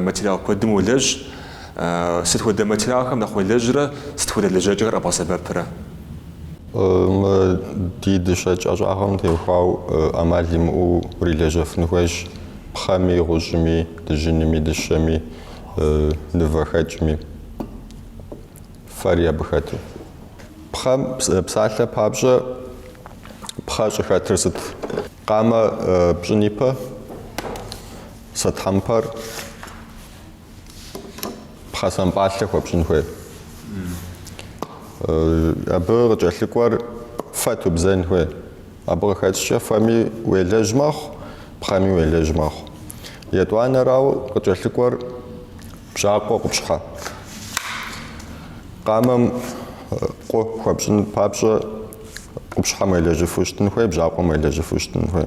материал куэдым уолэжь, сыт хуэдэ материалхэм нэхъ уелэжьрэ сыт хуэдэ лэжьэкӏэхэр къэбгъэсэбэпрэ? Мы ди дыщэкӏ ӏэщӏагъэм теухуау ӏэмал имыӏэу урилэжьэфын хуейщ пхъэми, гъущӏми, дыжьыными, дыщэми, нывэхэкӏми, фэри абы хэту. Пхъэм псалъэ папщӏэ пхъэ щӏыхэтыр сыт? Къамэ пщӏын ипэ? Сэ тхьэмпэр пхъэ сампӏалъэ хуэпщӏын хуей. Абы къыкӏэлъыкӏуэр фэ тубзэн хуей. Абы къыхэкӏкӏэ фэми уелэжь мэхъу, пхъэми уелэжь мэхъу. Етӏуанэрау къыкӏэлъыкӏуэр бжьакъуэ къупщхьэ. Къамэм къу хуэпщӏын папщӏэ къупщхьэм уелэжьыфу щытын хуей, бжьакъуэм уелэжьыфу щытын хуей.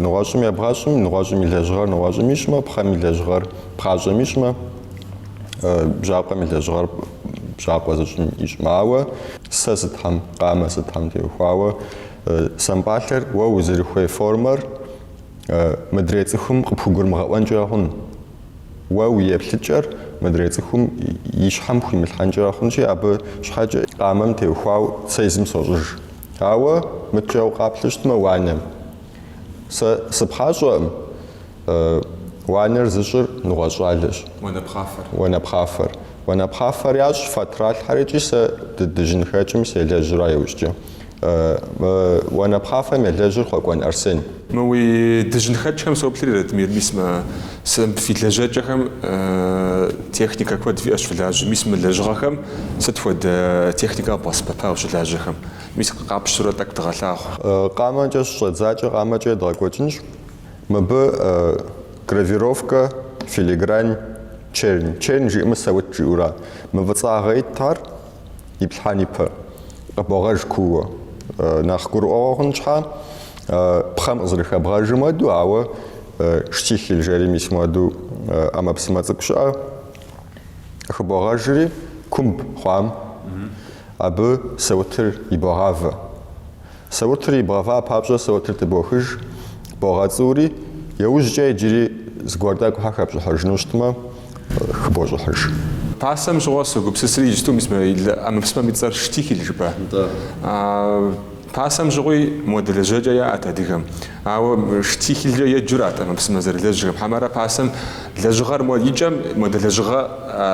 Нэгъуэщӏым ебгъэщӏым, нэгъуэщӏым и лэжьыгъэр нэгъуэщӏым ищӏмэ, пхъэм и лэжьыгъэр пхъащӏэм ищӏмэ, бжьакъуэм и лэжьыгъэр бжьакъуэ зыщӏым ищӏмэ. Ауэ сэ сытхэм, къамэ сытхэм теухуауэ, сампӏалъэр уэ узэрыхуей формэр мыдрей цӏыхум къыпхугурымыгъэӏуэнкӏэ хъун. Уэ уи еплъыкӏэр мыдрей цӏыхум и щхьэм хуимылъхьэнкӏэ хъунщи, абы щхьэкӏэ къамэм теухуау сэ езым сощӏыж. Ауэ мыдкӏэ укъаплъэу щытмэ уанэм. Сэ сыпхъащӏэкъым, уанэр зыщӏыр нэгъуэщӏ щӏалэщ. Уанэпхъафэр. Уанэпхъафэр ящӏ фэ тралъхьэр икӏи сэ дыдыжьынхэкӏым селэжьра иужькӏэ. Мы уанэпхъафэм елэжьыр Хъуэкӏуэн Арсен. Мы уи дыжьынхэкӏхэм соплъри, Ратмир, мис мы сынп фи лэжьэкӏэхэм техникэ куэд фиӏэщ фылажьэм, мис мы лэжьыгъэхэм сыт хуэдэ техникэ къэбгъэсэбэпа ущылажьэхэм? Мис къапщтурэ тӏэкӏу дыгъэлъагъу. Къамэкӏэ щыщӏэддзакӏэ къамэкӏэ едгъэкӏуэкӏынщ. Мыбы гравировкэ, филигрань, чернь. Чернь жиӏэмэ саут жиӏэура? Мы фӏыцӏагъэ ит ар, Иплъхьэн ипэ къыбогъэж кууэ. Нэхъ гурыӏуэгъуэ хъун щхьа, пхъэм къызэрыхэбгъэжым хуэду, ауэ штихель жэри мис муэду ӏэмэпсымэ цӏыкӏу щыӏэ, хыбогъэжри, кумб хъуам, абы саутыр ибогъавэ. Саутыр ибгъэва папщӏэ саутыр тыбохыж, богъэцӏури, еужькӏэ иджыри зыгуэр тӏэкӏу хьэ хэпщӏыхьыжыну щытмэ, хыбощӏыхьыж. Пасэм щыгъуэ согупсысри иджыпсту мис мы ӏэмэпсымэм и цӏэр Штихель жыпӏа. Пасэм щыгъуи муэдэ лэжьэкӏэ яӏэт адыгэм. Ауэ Штихелькӏэ еджэурат ӏэмэпсымэ зэрылажьэхэм, хьэмэрэ пасэм лэжьыгъэр мо икӏэм муэдэ лэжьыгъэ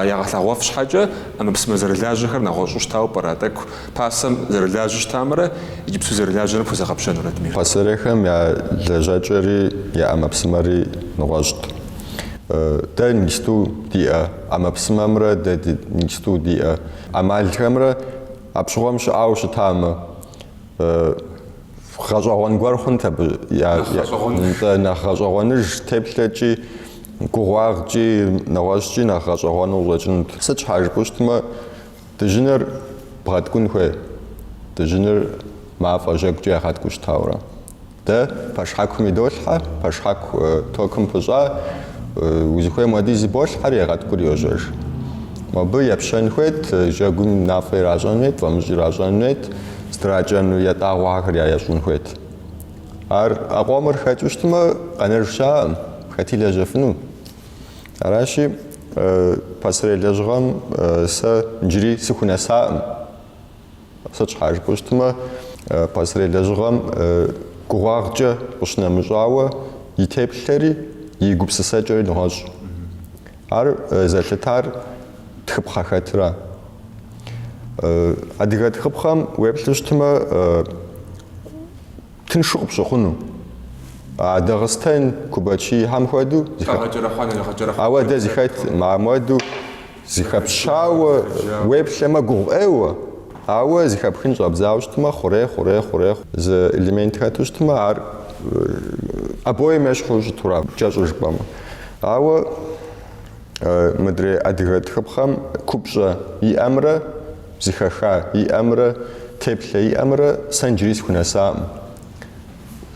ягъэлъэгъуэф щхьэкӏэ ӏэмэпсымэ зэрылажьэхэр нэгъуэщӏу щытауэ пӏэрэ тӏэкӏу Пасэм зэрылажьэу щытамрэ иджыпсту зэрылажьэрэ пхузэгъэпщэну, Ратмир? Пасэрейхэм я лэжьакӏэри я ӏэмэпсымэри нэгъуэщӏт. Дэ иджыпсту диӏэ ӏэмэпсымэмрэ дэ иджыпсту диӏэ ӏэмалхэмрэ апщыгъуэм щыӏэу щытамэ, гъэщӏэгъуэн гуэр хъунт абы, нтӏэ, нэхъ гъэщӏэгъуэныж теплъэкӏи, гугъуагъкӏи, нэгъуэщӏкӏи нэхъ гъэщӏэгъуэну щӏэкӏынут. Сыт щхьа жыпӏэу щытмэ, Дыжьыныр бгъэткӏун хуей, дыжьыныр мафӏэ жьэгукӏэ ягъэткӏуу щытауэ ара. Дэ пэшхьэкум идолъхьэ, пэшхьэку токым пыщӏа, узыхуейм хуэдиз иболъхьэри, егъэткӏури йожьэж. Мобы епщэн хуейт, жьэгум мафӏэ иращӏэн хуейт, фӏамыщӏ иращӏэн хуейт, здракӏэну ятӏагъуэхэр яещӏын хуейт. Ар а къомыр хэкӏыу щытмэ, къэнэж щаӏым, хэти лэжьэфыну. Аращи, пасэрей лэжьыгъэм сэ иджыри сыхунэсакъым. Сыт щхьа жыпӏэу щытмэ, пасэрей лэжьыгъэм гугъуагъкӏэ къыщынэмыщӏауэ и теплъэри, и гупсысэкӏэри нэгъуэщӏ. Ар зэлъытар тхыпхъэ хэтра. Адыгэ тхыпхъэм уеплъу щытмэ, Тыншу къыпщыхъуну. А Дагъыстэн Кубачихэм хуэдэу ауэдэ зыхэтмэ, муэду зыхэпщауэ уеплъэмэ гугъу ӏейуэ. Ауэ зыхэпхын щӏэбдзауэ щытмэ, хъурей, хъурей, хъурей, зы элемент хэту щытмэ, ар обоим ещхьу щыту ара, кӏэщӏу жыпӏэмэ. Ауэ мыдрей адыгэ тхыпхъэм купщӏэ иӏэмрэ, Зыхэха иӏэмрэ теплъэ иӏэмрэ сэ иджыри сыхунэсакъым.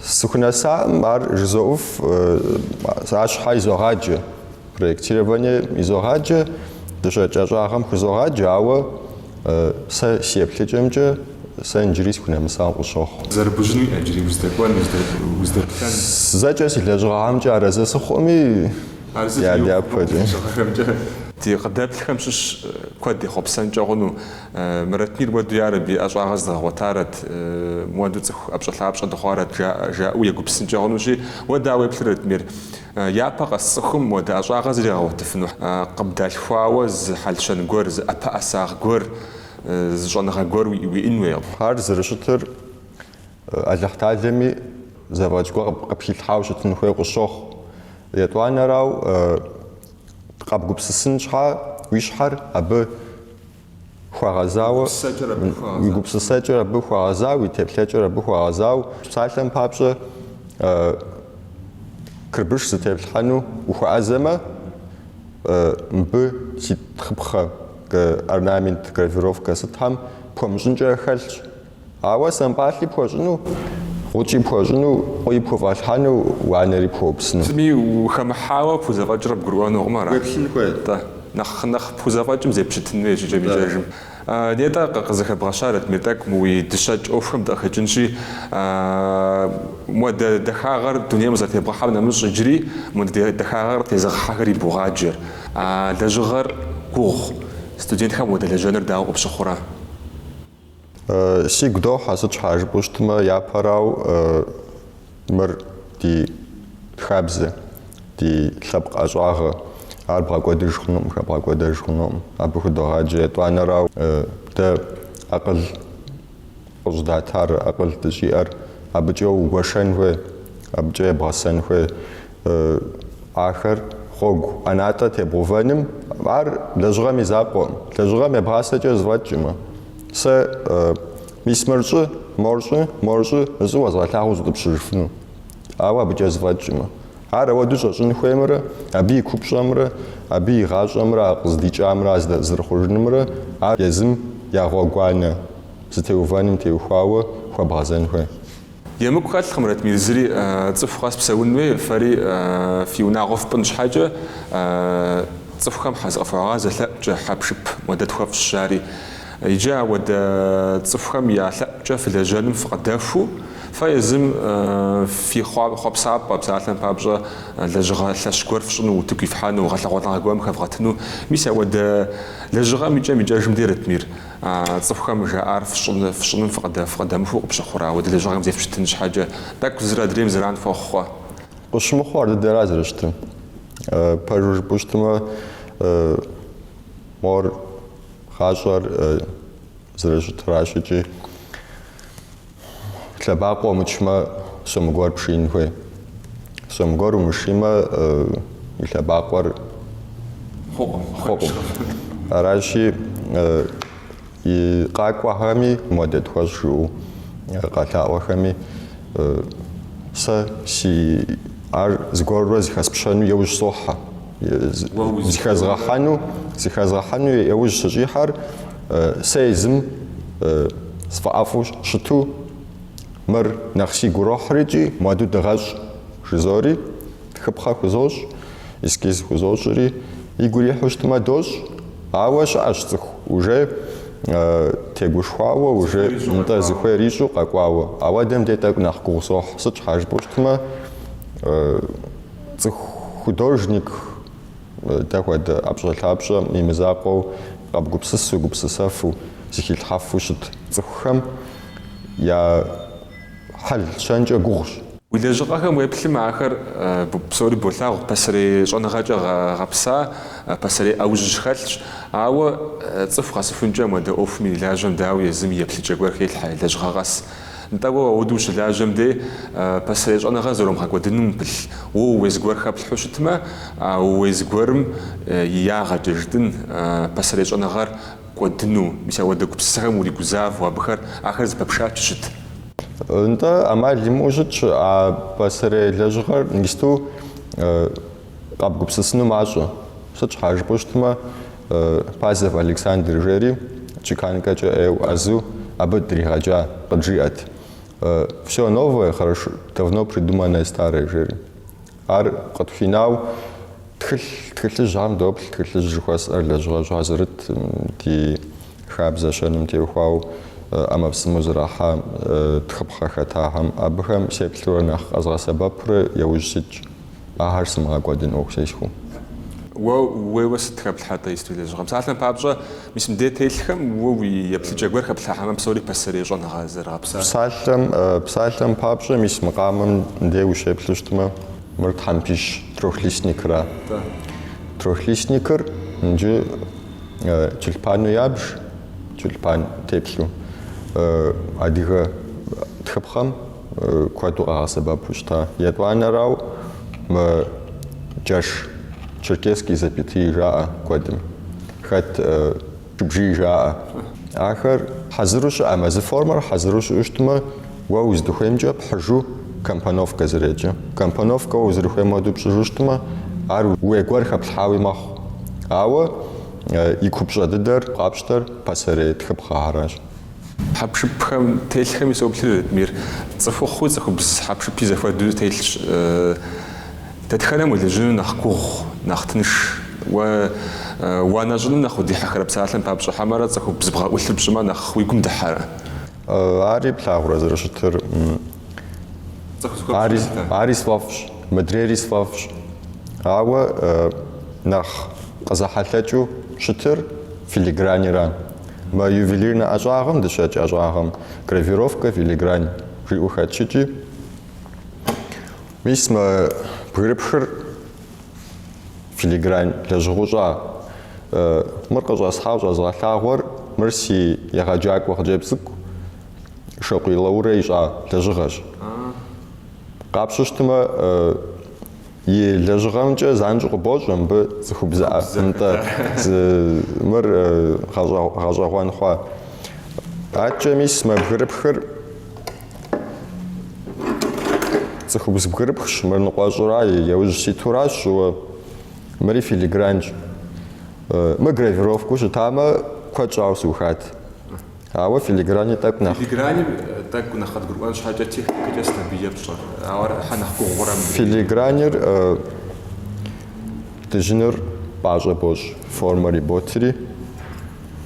Сыхунэсакъым, ар жызоӏуф, арщхьэ изогъаджэ, проектирование изогъаджэ, дыщэкӏ ӏэщӏагъэм хузогъаджэ, ауэ сэ си еплъыкӏэмкӏэ сэ иджыри сыхунэмысауэ къысщохъу. Зэрыбужьын уиӏэ иджыри, уздэкӏуэн, уздэплъэн? Зэкӏэ си лэжьыгъэхьэмкӏэ арэзы сыхъуми. Дяпэкӏэ. Ди къыдэплъхэм щыщ куэд ехъуэпсэнкӏэ хъуну. Мы Ратмир хуэду, ярэби, ӏэщӏагъэ зэдгъэгъуэтарэт, моду цӏыху ӏэпщӏэлъапщӏэ дыхъуарэт, жаӏэу егупсынкӏэ хъунущи, уэ дауэ уеплъыр Ратмир? Япэ къэс цӏыхум муэдэ ӏэщӏагъэ зригъэгъуэтыфыну къыбдалъхуауэ зы хьэл-щэн гуэр, зы ӏэпэӏэсагъ гуэр, зы щӏэныгъэ гуэр уиӏэн хуейуэ ара зэрыщытыр. Алыхьталэми зэфӏэкӏ гуэр къыпхилъхьауэ щытын хуей къыщохъу. Етӏуанэрау къэбгупсысын щхьа уи щхьэр абы хуэгъэзауэ, уи гупсысэкӏэр абы хуэгъэзауэ, уи теплъэкӏэр абы хуэгъэзауэ, псалъэм папщӏэ кырбыш зытеплъхьэну ухуэӏэзэмэ, мыбы си тхыпхъэ, орнамент, гравировкэ сытхэм пхуэмыщӏынкӏэ хэлъщ. Ауэ сампӏалъи пхуэщӏыну, гъукӏи пхуэщӏыну, къуи пхуфӏэлъхьэну, уанэри пхуэупсыну. Зыми ухэмыхьауэ пхузэфӏэкӏыр къыбгурыӏуэнукъым ара? Уеплъын хуейт. Тӏэ. Нэхъ, нэхъ пхузэфӏэкӏым зепщытын хуейщ икӏэм-икӏэжым. Нетӏэ, къызэхэбгъэща, Ратмир, тӏэкӏу мы уи дыщэкӏ ӏуэхухэм дыкъыхэкӏынщи, модэ дахагъэр дунейм къызэрытебгъэхьэм нэмыщӏ иджыри мыдэ дахагъэр къытезыгъэхьэхэр ибогъаджэр, а лэжьыгъэр гугъу. Студентхэм уадэлэжьэныр дауэ къыпщыхъурэ? Сигу дохьэ, сыт щхьа жыпӏэу щытмэ, япэрау мыр ди хабзэ, ди лъэпкъ ӏэщӏагъэ. Ар бгъэкӏуэдыж хъунукъым, хэбгъэкӏуэдэж хъунукъым. Абы худогъаджэ етӏуанэрау дэ акъыл къыщӏыдатар, акъыл дыщӏиӏэр абыкӏэ угуэшэн хуей, абыкӏэ ебгъэсэн хуей. Ахэр гъуэгу ӏэнатӏэ тебгъэувэным ар лэжьыгъэм и закъуэкъым. Лэжьыгъэм ебгъасэкӏэ зэфӏэкӏкъым. Сэ мис мыр щӏы, мор щӏы, мор щӏы жысӏэу уэзгъэлъагъуу зыкъыпщыжыфыну. Ауэ абыкӏэ зэфӏэкӏкъым. Ар ауэдэу щӏэщӏын хуеймрэ, абы и купщӏэмрэ, абы и гъащӏэмрэ а къыздикӏамрэ а зэрыхъужынымрэ ар езым я гъуэгуанэ зытеувэным теухуауэ хуэбгъэзэн хуей. Емыкӏу хэлъкъым, Ратмир, зыри цӏыху къэс псэун хуей, фэри фи унагъуэ фпӏын щхьэкӏэ, цӏыхухэм зыкъыфхуагъазэ лъэӏукӏэ хьэпшып модэ тхуэфщӏ, жари. Иджы ауэдэ цӏыхухэм я лъэӏукӏэ фылэжьэным фыкъыдэхуу, фэ езым фи хъуэпсапӏэ, псалъэм папщӏэ, лэжьыгъэ лъэщ гуэр фщӏыну, утыку ифхьэну, гъэлъэгъуэныгъэ гуэм хэвгъэтыну, мис ауэдэ лэжьыгъэм икӏэм-икӏэжым дей, Ратмир. А цӏыхухэм жаӏар фщӏыным фыкъыдэмыхуу къыпщыхъурэ, ауэдэ лэжьыгъэм зефпщытын щхьэкӏэ, тӏэкӏу зыр адрейм зэран хуэхъуу? Къысщымыхъуу ар дыдэра зэрыщытыр? Пэжу жыпӏэу щытмэ, мор гъащӏэр зэрыщытыращ икӏи. Лъэбакъуэ умычмэ, сом гуэр пшиин хуей. Сом гуэр умышимэ, и лъэбакъуэр хъукъым. Аращи, и къакӏуэхэми модэ тхуэщӏ жаӏэу къэлъаӏуэхэми, сэ си ар зыгуэрурэ зыхэспщэну еужь сохьэ. Зыхэзгъэхьэну, зыхэзгъэхьэну еужь сыщӏихьэр Сэ езым сфӏэӏэфӏу щыту мыр нэхъ сигу рохьыр икӏи муэду дыгъэщӏ, жызори, тхыпхъэ хузощӏ, эскиз хузощӏри, игу ирихьу щытмэ дощӏ, ауэ щыӏэщ цӏыху уже тегушхуауэ, уже нтӏэ зыхуейр ищӏу къэкӏуауэ. Ауэдэм де тӏэкӏу нэхъ гугъу сохь, сыт щхьа жыпӏэу щытмэ цӏыху художник, Дэ хуэдэ ӏэпщӏэлъапщӏэм и мызакъуэу, къэбгупсысу, гупсысэфу, зыхилъхьэфу щыт цӏыхухэм я хьэл щэнкӏэ гугъущ. Уи лэжьыгъэхэм уеплъым ахэр псори болъагъу, пасэрей щӏэныгъэкӏэ гъэпса, пасэрей ӏэужьыжь хэлъщ. Ауэ цӏыху къэсыхункӏэ муэдэ ӏуэхум ирилажьэм, дауи, езым и еплъыкӏэ гуэр хелъхьэ, лэжьыгъэ къэс. Нтӏэ, уэ ауэду ущылажьэм де, пасэрей щӏэныгъэр зэрумыгъэкӏуэдынум упылъ. Уэ ууей зыгуэр хэплъхьэу щытмэ, а ууей зыгуэрым и ягъэкӏэ, жытӏэн, пасэрей щӏэныгъэр кӏуэдыну. Мис ауэдэ гупсысэхэм уригузавэу, абыхэр ахэр зэпэпшэчу щыт. Нтӏэ, ӏэмал имыӏэу щытщ а пасэрей лэжьыгъэр нысту. Къэбгупсысыну мащӏэ. Сыт щхьа жыпӏэу щытмэ, Пазов Александр жери, чеканкэкӏэ ӏейуэ ӏэзэу абы дригъэджа, къыджиӏэт. Всё новое, хорошо, давно придуманное старое жери. Ар къытхуинау тхылъ, тхылъыжьхэм доплъ, тхылъыжь жыхуэсӏэр лэжьыгъэжьхэ зэрыт ди хабзэ щэным теухуауэ ӏэмэпсымэу зэрахьа тхыпхъэ хэтахэм, абыхэм сеплъурэ нэхъ къэзгъэсэбэпурэ яужь ситщ. Ахэр сымыгъэкӏуэдын ӏуэху зесхуэу. Уэ уейуэ сыт хэплъхьэ-тӏэ Историе лэжьыгъэм? Псалъэм папщӏэ, мис мы дей телъхэм уэ уи еплъыкӏэ гуэр хэплъхьэмэ, псори пасэрей щӏэныгъэ зэрыгъэпсар. Псалъэм, Псалъэм папщӏэ, мис мы къамэм дей ущеплъу щытмэ, мыр тхьэмпищ трехлистникра? Тӏэ. Трехлистникыр иджы тюльпану ябж, тюльпан теплъу адыгэ тхыпхъэм. куэду къагъэсэбэпу щыта. Етӏуанэрау мы джэш черкесский запятые жаӏэ куэдым, хэт чыбжий жаӏэ. Ахэр хьэзыру щыӏэм, езы формэр хьэзыру щыӏэу щытмэ, уэ уздыхуеймкӏэ пхьыжу компоновкэ зэреджэ. Компоновкэ уэ узэрыхуейм хуэдэу пщӏыжу щытмэ, ар уей гуэр хэплъхьауи мэхъу. Ауэ и купщӏэ дыдэр, къапщтэр пасэрей тхыпхъэхьэращ. Хьэпшыпхэм телъхэми соплъри, Ратмир, цӏыхухъуи цӏыхубз хьэпшыпи зэхуэдэу телъщ. Дэтхэнэм уелэжьыну нэхъ гугъу, нэхъ тынш? Уэ уанэ щӏыным нэхъ удихьэхэрэ псалъэм папщӏэ хьэмэрэ цӏыхубз бгъэӏулъыр пщӏымэ нэхъ уи гум дыхьэрэ? Ари плъагъурэ зэрыщытыр? Ари сфӏэфӏщ, мыдрейри сфӏэфӏщ. Ауэ нэхъ къызэхьэлъэкӏыу щытыр? Филигранирэ. Мы ювелирнэ ӏэщӏагъэм дыщэкӏ ӏэщӏагъэм гравировкэ филигрань жиӏэу хэтщӏыкӏи, мис мы бгырыпхыр филигрань лэжьыгъэу щӏа. Мыр къыщӏэсхьауэ щӏэзгъэлъагъуэр мыр си егъэджакӏуэ хъыджэбз цӏыкӏу Шокъуий Лаурэ ищӏа лэжьыгъэщ. Къапщу щытмэ, И лэжьыгъэмкӏэ занщӏэу къыбощӏэ мыбы цӏыхубзыӏэ. Нтӏэ мыр гъэщӏэгъуэн хъуа. Аткӏэ мис мы бгырыпхыр цӏыхубз бгырыпхщ, мыр ныкъуэщӏура, яужь ситуращ сщӏыуэ, мыри филигранщ. Мы гравировкэу щытамэ, куэд щӏауэ сыухат. Ауэ филиграни тӏэкӏу нэхъ. Филиграни тӏэкӏу нэхъ къыдгурыӏуэн щхьэкӏэ техникэкӏэ сабийкӏэ пщӏэ. Ауэ ар ӏыхьэ нэхъ гугъурэ мыбы. Филигранир дыжьыныр пӏащӏэ бощӏ, формэр иботри,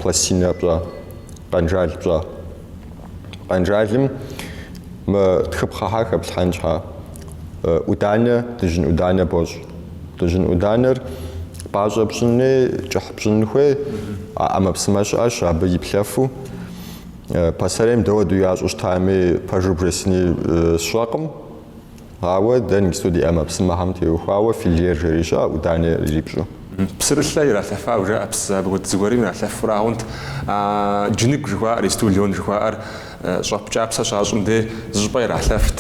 пластинэ пщӏа, къэнжал пщӏа. Къэнжалым мы тхыпхъэхьэр хэплъхьэн щхьа ӏуданэ, дыжьын ӏуданэ бощӏ. Дыжьын ӏуданэр пӏащӏэ пщӏыни, кӏыхь пщӏын хуей, а ӏэмэпсымэ щыӏэщ абы иплъэфу. Пасэрейм дауэду ящӏу щытами, пэжу бжесыни сщӏэкъым. Ауэ дэ нысту ди ӏэмэпсымэхэм теухуауэ филер жери щыӏэ, ӏуданэ ирипщӏу. Псырылъэ иралъэфау жаӏэ, псы абы хуэдэ зыгуэрым иралъэфурагъунт. А джыныгу жыхуаӏэр, истулон жыхуаӏэр, Щӏэп кӏапсэ щащӏым дей зы щӏыпӏэ иралъэфт.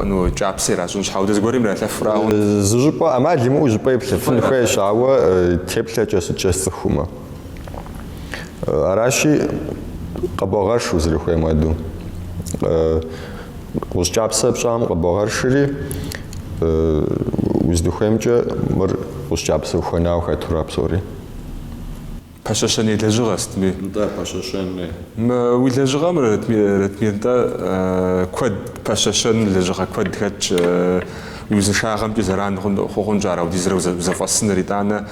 Ну, кӏапсэ иращӏын щхьа ауэдэ зыгуэрым иралъэфурэ ауэ. Зы щӏыпӏэ, ӏэмал имыӏэу зы щӏыпӏэ иплъэфын хуейщ, ауэ теплъэкӏэ сыткӏэ сцӏыхумэ. Аращи, къыбогъэрш узэрыхуейм хуэдэу. Гъущӏ кӏапсэ пщӏам къыбогъэршри, узыдыхуеймкӏэ мыр гъущӏ кӏапсэ ухуэнауэ хэтура псори. Пэщэщэн и лэжьыгъэ сытми. Нтӏэ, пэщэщэнми. Мы уи лэжьыгъэм Ратмир, нтӏэ, куэд, пэщэщэн лэжьыгъэ куэд хэтщ. Уи узыншагъэмкӏи зэран хуэхъунщ ар аудизрэ узэфӏэсыныр. Итӏанэ,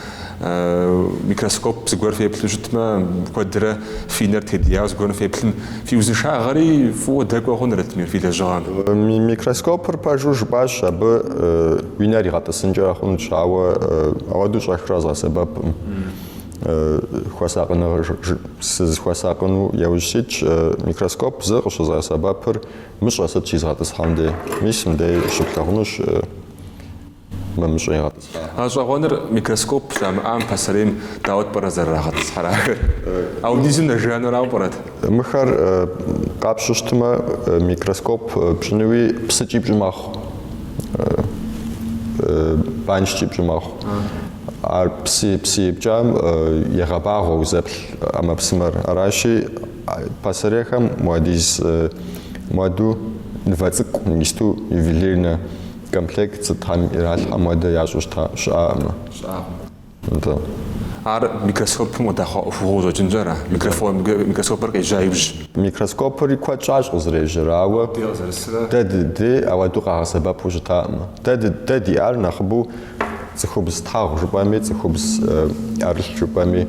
микроскоп зыгуэр феплъу щытмэ, куэдрэ фи нэр тедияуэ зыгуэрым феплъым, фи узыншагъэри фӏыуэ дэкӏуэ хъун, Ратмир, фи лэжьыгъэм. Микроскопыр пэжу жыпӏащ, абы уи нэр игъэтӏысынкӏэ хъунщ, ауэ ауэдэу щӏэхрэ къэзгъэсэбэпкъым. хуэсакъыныгъэ сызыхуэсакъыну яужь ситщ микроскоп зэ къыщызгъэсэбэпыр мыщӏэ сыт щизгъэтӏысхьэм дей. Мис мыбдей щыплъагъунущ мы мыщӏэ игъэтӏысхьа. Гъэщӏэгъуэныр микроскоп щамыӏам пасэрейм дауэт пӏэрэ зэрырагъэтӏысхьэр ахэр? Аудизым нэжанэрауэ пӏэрэт? Мыхэр къапщу щытмэ, микроскоп пщӏынуи псыкӏи пщӏы мэхъу, банщкӏи пщӏы мэхъу. Ар псы псы ипкӏам егъэбагъуэ узэплъ ӏэмэпсымэр. Аращи, пасэрейхэм муэдиз муэду нывэ цӏыкӏу, нысту ювелирнэ комплект сытхэм иралъхьэм хуэдэ ящӏу щыта щыӏакъымэ. Щыӏакъым. Атӏэ. Ар микроскопым къыдэхъуа ӏуэхугъуэу къыщӏэкӏынщ ара? Микрофон микроскопыр къежьа иужь. Микроскопри куэд щӏащ къызэрежьэр, ауэ. Дэ къызэрысрэ. Дэ ди дей ауэду къагъэсэбэпу щытакъымэ. Дэ дэ диӏар нэхъыбэу. Цӏыхубз тхьэгъу жыпӏэми, цӏыхубз ӏэрылъ жыпӏэми,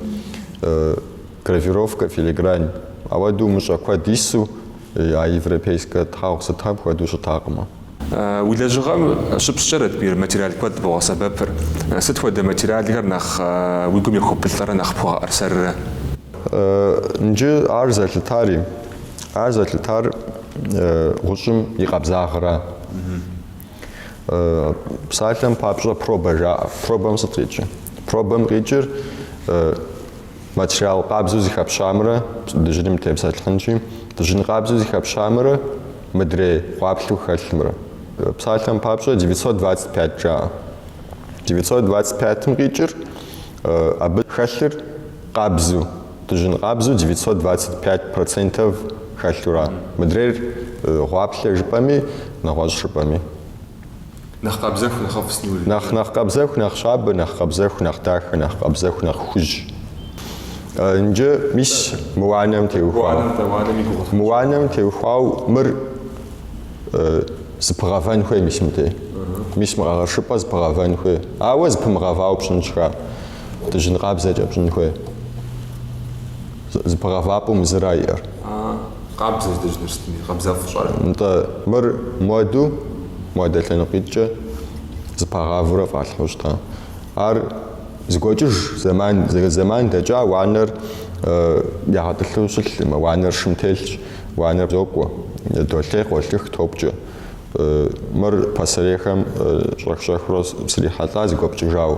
гравировкэ, филигрань ауэдэу мыщӏэ куэд ису, а европейскэ тхьэгъу сытхэм хуэдэу щытакъымэ. Уи лэжьыгъэм щыпщӏкӏэ Ратмир материал куэд богъэсэбэпыр. Сыт хуэдэ материалхэр нэхъ уи гум ехуэбылӏэрэ нэхъ пхуэгъэӏэрсэррэ? Нджы ар зэлъытари, ар зэлъытар гъущӏым и къабзагъра. Псалъэм папщӏэ пробэ жаӏэ. Пробэм сыт къикӏыр? Пробэм къикӏыр материал къабзэу зыхэпщамрэ дыжьыным тепсэлъыхьынщи, дыжьын къабзэу зыхэпщамрэ мыдрей гъуаплъэу хэлъымрэ. Псалъэм папщӏэ девятьсот двадцать пять жаӏэ. Девятьсот двадцать пятым къикӏыр абы хэлъыр Къабзу, дыжьын къабзу девятьсот двадцать пять процентов хэлъура? Мыдрейр гъуаплъэ жыпӏэми, нэгъуэщӏ жыпӏэми. Нэхъ къабзэху, нэхъыфӏ сни уэри. Нэхъ, нэхъ къабзэху, нэхъ щабэ, нэхъ къабзэху, нэхъ дахэ, нэхъ къабзэху, нэхъ хужь. Нджы, мис, мы уанэм теухуауэ. Уанэр, дэ, уанэм и гугъу. Мы уанэм теухуауэ мыр зыпыгъэвэн хуей, мис, мыдей. Мис мы къэгъэшыпӏэр зыпыгъэвэн хуей. Ауэ зыпымыгъэвауэ пщӏын щхьа. Дыжьын къабзэкӏэ пщӏын хуей. Зыпыгъэвапӏэу мы зыра иӏэр. Къабзэщ дыжьыныр сытми, къабзэу фщӏэрэ? Нтӏэ, мыр муэду, муэдэ лъэныкъуитӏкӏэ зыпагъавэурэ фӏалъхьэу щыта. Ар зыгуэкӏыж, зэман, зэман дэкӏа уанэр ягъэтӏылъу щылъкъымэ, уанэр шым телъщ, уанэр зокӏуэ, долъей, къолъых, топкӏэ. Мыр пасэрейхэм щӏэх-щӏэхыурэ срихьэлӏа зыгуэпкӏыжауэ.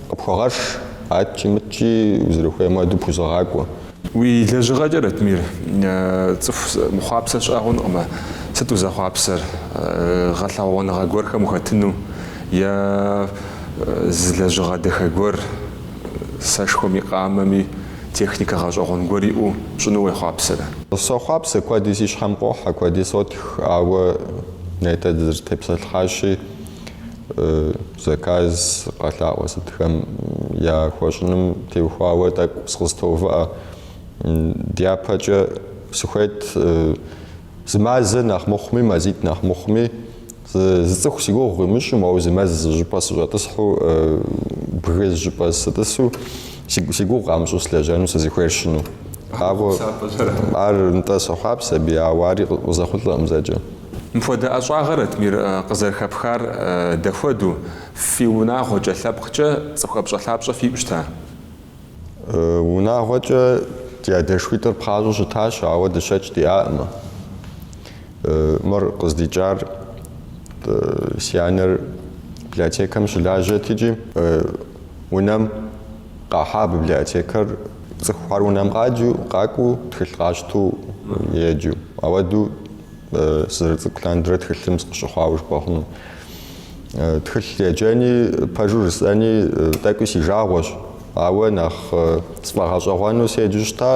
Къыпхуэгъэш, адкӏи мыдкӏи узэрыхуейм хуэдэу пхузэгъакӏуэ. Уи лэжьыгъэкӏэ, Ратмир, цӏыху мыхъуапсэ щыӏэ хъункъымэ. Сыт узэхъуапсэр? Гъэлъэгъуэныгъэ гуэрхэм ухэтыну е зы лэжьыгъэ дахэ гуэр, сэшхуэми къамэми техникэ гъэщӏэгъуэн гуэр иӏэу пщӏыну уехъуапсэрэ? Сохъуапсэ, куэди си щхьэм къохьэ, куэди сотх, ауэ нетӏэ дызэрытепсэлъхьащи. Заказ къэлъаӏуэ сытхэм яхуэщӏыным теухуауэ тӏэкӏу сыкъызтоувыӏэ. Дяпэкӏэ сыхуейт зы мазэ нэхъ мыхъуми, мазитӏ нэхъ мыхъуми, зы цӏыху си гугъу къимыщӏу, моуэ зы мэз зы щӏыпӏэ сыщӏэтӏысхьу, бгы зы щӏыпӏэ сытӏысу, Си гугъу къамыщӏу слэжьэну сызыхуейр сщӏыну. Ауэ ар нтӏэ сохъуапсэ абы, ауэ ари къызэхъулӏэкъым зэкӏэ. Мыпхуэдэ ӏэщӏагъэр, Ратмир, къызэрыхэпхар дэхуэду, фи унагъуэкӏэ, лъэпкъкӏэ цӏыху ӏэпщӏэлъапщӏэ фиӏу щыта? Унагъуэкӏэ ди адэшхуитӏыр пхъащӏэу щытащ, ауэ дыщэкӏ диӏакъымэ. Мыр къыздикӏар си анэр библиотекэм щылажьэт икӏи. Унэм къахьа библиотекэр цӏыхухэр унэм къаджу, къакӏуэу, тхылъ къащтэу еджэу. Ауэдэу сызэрыцӏыкӏу лъандэрэ тхылъым сыкъыщыхъуауэ жыпӏэ хъуну. Тхылъ еджэни, пэжу жысӏэни, тӏэкӏуи си жагъуэщ. Ауэ нэхъ сфӏэгъэщӏэгъуэну седжэу щыта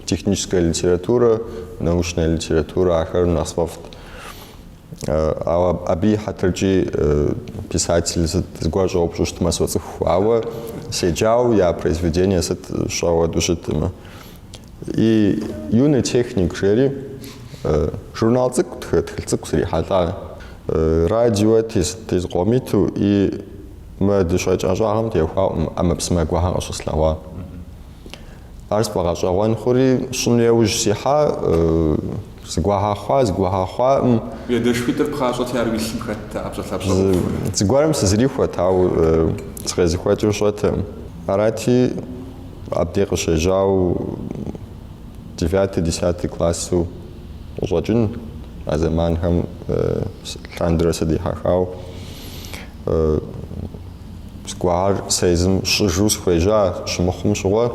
техническая литература, научная литература, ахэр нэхъ сфӏэфӏт. Ауэ абы и хьэтыркӏи писатель сыт зыгуэр щӏэупщӏу щытмэ соцӏыху, ауэ седжауэ я произведение сыт сщӏэ ауэду щыткъымэ. И юный техник жери журнал цӏыкӏу, тхылъ цӏыкӏу срихьэлӏа. Радио тезкъомиту и мы дыщэкӏ ӏэщӏагъэм теухуауэ ӏэмэпсымэ гуэхэр къыщыслъэгъуа. Ар сфӏэгъэщӏэгъуэн хъури, сщӏыну яужь сихьа, зыгуэхэр хъуа, зыгуэхэр хъуакъым. Ди адэшхуитӏыр пхъащӏэти, ар уи лъым хэтт, ӏэпщӏэлъапщӏэ къыпхури. Зыгуэрым сызэрихуэт, ауэ сыкъезыхуэкӏыр сщӏэтэкъым. Арати, абдей къыщежьауэ девятый, десятый классу къыщӏэкӏын, а зэманхэм лъандэрэ сыдихьэхауэ. Зыгуэхэр сэ езым сщӏыжу сыхуежьа щымыхъум щыгъуэ,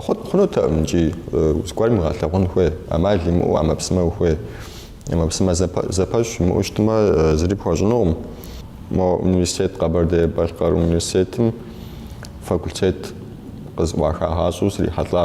хъут хъунутэкъым икӏи зыгуэрым уигъэлъэгъун хуей, ӏэмал имыӏэу ӏэмэпсымэ ухуей. ӏэмэпсымэ зэпэщ уимыӏэу щытмэ, зыри пхуэщӏынукъым. Мо университет, Къэбэрдей-Балъкъэр университетым факультет къызӏуахагъащӏэу срихьэлӏа.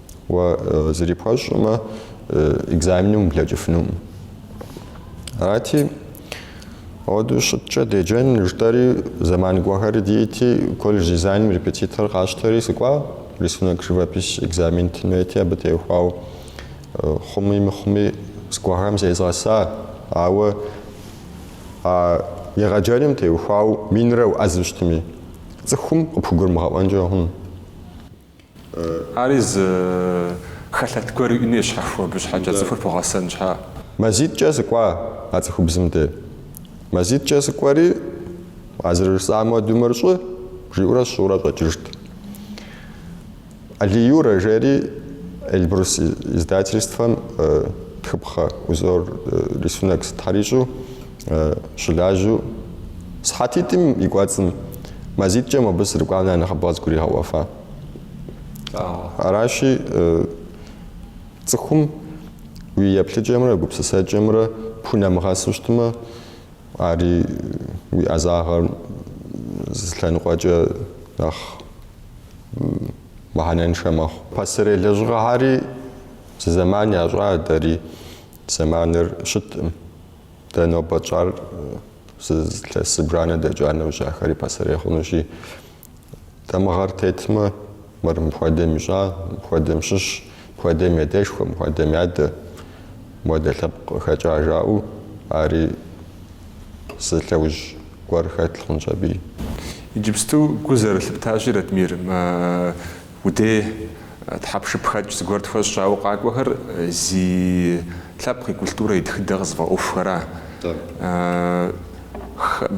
Уэ зыри пхуэщӏкъымэ, экзаменым ублэкӏыфынукъым. Арати, ауэдэу щыткӏэ деджэн жытӏэри, зэман гуэхэри дийти, колледж дизайным репетитор къэсщтэри, сыкӏуа рисунок живопись экзамен тын хуейти, абы теухуауэ хъуми мыхъуми зыгуэхэм зезгъэса, ауэ а егъэджэным теухуауэ минрэ уӏэзу щытми, цӏыхум къыпхугурымыгъэӏуэнкӏэ хъун. Ари зы хэлъэт гуэр иӏэну щхьэхуэу абы щхьэкӏэ цӏыхур бгъэсэн щхьэ. Мазитӏкӏэ сыкӏуа а цӏыхубзым де. Мазитӏкӏэ сыкӏуэри, а зэрыжысӏам уэду мыр щӏы, жиӏэурэ сщӏыурэ щӏэкӏыжт. Алий Юрэ жери Эльбрус издательствэм тхыпхъэ узор, рисунок, сытхьэр ищӏу. Щылажьэу сыхьэтитӏым и кӏуэцӏым мазитӏкӏэ мобы сырыкӏуам нэхъ нэхъыбэ къызгуригъэӏуэфа. Аращи, цӏыхум уи еплъыкӏэмрэ гупсысэкӏэмрэ пхунэмыгъэсу щытмэ, ари уи ӏэзагъэр зы лъэныкъуэкӏэ нэхъ мыхьэнэншэ мэхъу. Пасэрей лэжьыгъэхьэри зы зэман ящӏа, дэри зэманыр щыткъым. Дэ нобэ тщӏар зы илъэс зыбжанэ дэкӏа нэужь ахэри пасэрей хъунущи, дамыгъэр тетмэ, мыр мыпхуэдэм ищӏа, мыпхуэдэм щыщ, мыпхуэдэм ядэшхуэ, мыпхуэдэм ядэ, мыпхуэдэ лъэпкъ къыхэкӏа жаӏэу ари зы лъэужь гуэр хэлъ хъунщ абыи. Иджыпсту гу зэрылъыптащи, Ратмир, Уи дей тхьэпшыпхэкӏ зыгуэр тхуэщӏ жаӏэу къакӏуэхэр зи лъэпкъ и культурэ и тхыдэ къызыфӏэӏуэхухэра?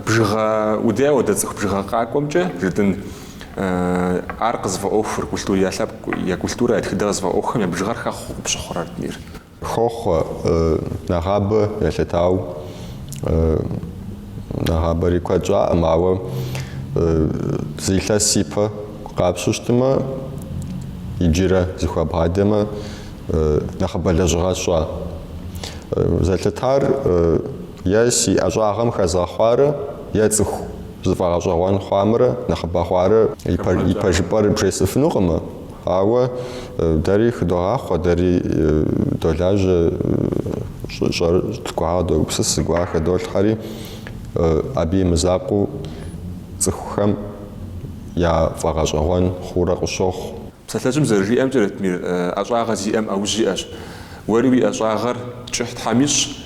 Бжыгъэ уи дей ауэдэ цӏыху бжыгъэ къакӏуэмкӏэ жытӏын ар къызыфӏэӏуэхур, культур я лъэпкъ, я культурэ, я тхыдэ къызыфӏэӏуэхухэм я бжыгъэр хэхъу къыпщыхъурэ, Ратмир? Хохъуэ, нэгъабэ елъытау, нэгъабэри куэд щӏаӏым, ауэ зы илъэс ипэ къапщтэу щытмэ, иджырэ зэхуэбгъадэмэ, нэхъыбэ лэжьыгъэ сщӏа. Зэлъытар е си ӏэщӏагъэм хэзгъэхъуарэ е цӏыху зыфӏэгъэщӏэгъуэн хъуамрэ нэхъыбэ хъуарэ, и пэжыпӏэр бжесӏыфынукъымэ. Ауэ дэри хыдогъахъуэ, дэри долажьэ, щӏэуэ тӏэкӏу къэдогупсыс, зыгуэр къыхэдолъхьэри, абы и мызакъуэу цӏыхухэм я фӏэгъэщӏэгъуэн хъуурэ къыщохъу. Псалъэжьым зэрыжиӏэмкӏэ, Ратмир, ӏэщӏагъэ зиӏэм ӏэужь иӏэщ. Уэри уи ӏэщӏагъэр кӏыхь Тхьэм ищӏ,